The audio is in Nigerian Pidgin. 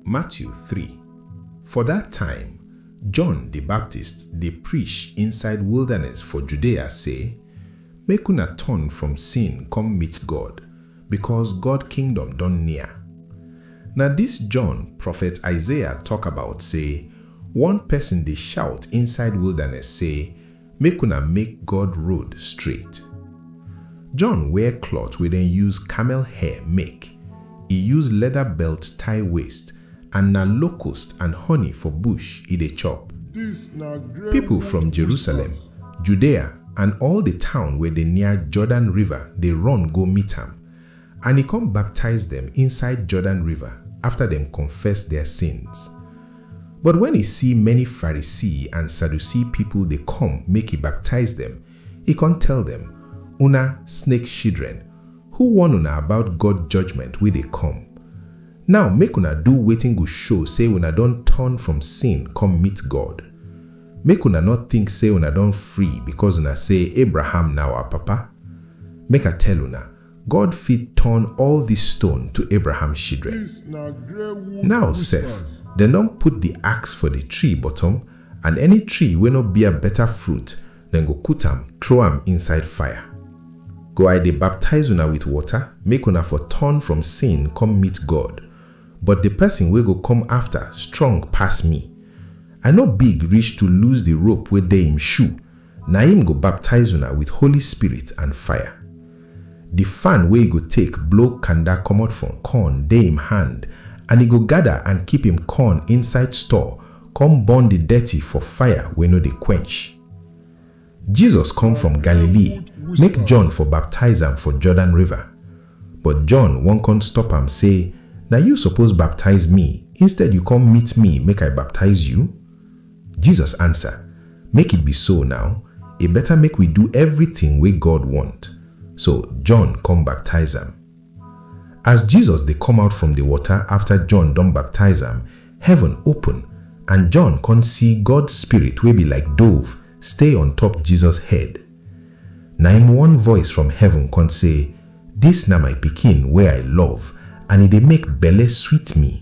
Matthew three, For dat time, John di Baptist dey prish inside wildaness for Judea sey, Make una turn from sin kom meet God, bikos God kingdom don near. Na dis John profet Isaiah tok about sey one pesin dey shout inside wildaness sey, Make una make God road straight. John wear cloth wey dem use camel hair make, e use leather belt tie waist and na locust and honey for bush e dey chop. People from Jerusalem, Judea and all the town wey dey near Jordan river dey run go meet am And e kon baptize dem inside Jordan River afta dem konfess dia sins. But wen e si many Pharisee and Sadducee pipol dey kom make e baptize dem, e kon tell dem, Una snake shidren, who warn una about God judgment wey dey kom? Naw make una do wetin go show sey una don turn from sin kom meet God. Make una nor tink sey una don free bikos una sey Abraham na our papa. Make I tell una, God fit turn all di stone to Abraham shidren. Naw sef, dem don put di axe for di tree bottom and any tree wey nor bear beta fruit, dem go kut am trow am inside fire. Go I dey baptize una with water make una for turn from sin kom meet God, but di pesin wey go kom afta strong pass mi. I nor big rish to loose di rope wey dey im shoe, Na im go baptize una with Holy Spirit and fire. Di fan wey e go take blow kanda komot from corn dey im hand, and e go gada and keep im corn inside store con burn di dirty for fire wey no dey quench. Jesus come from Galilee make John for baptize am for Jordan River, but John wan con stop am sey, Na you suppose baptize me, instead you come meet me make I baptize you? Jesus ansa, Make it be so naw, e beta make wi du evritin wey God wont. So, John kom baptize am. As Jesus dey kom out from di wota afta John don baptize am, heaven open and John kon si God Spirit wey bi like dove stay on top Jesus head. Na im one voice from heaven kon sey, Dis na my Pikin wey I love and e dey make belle sweet mi.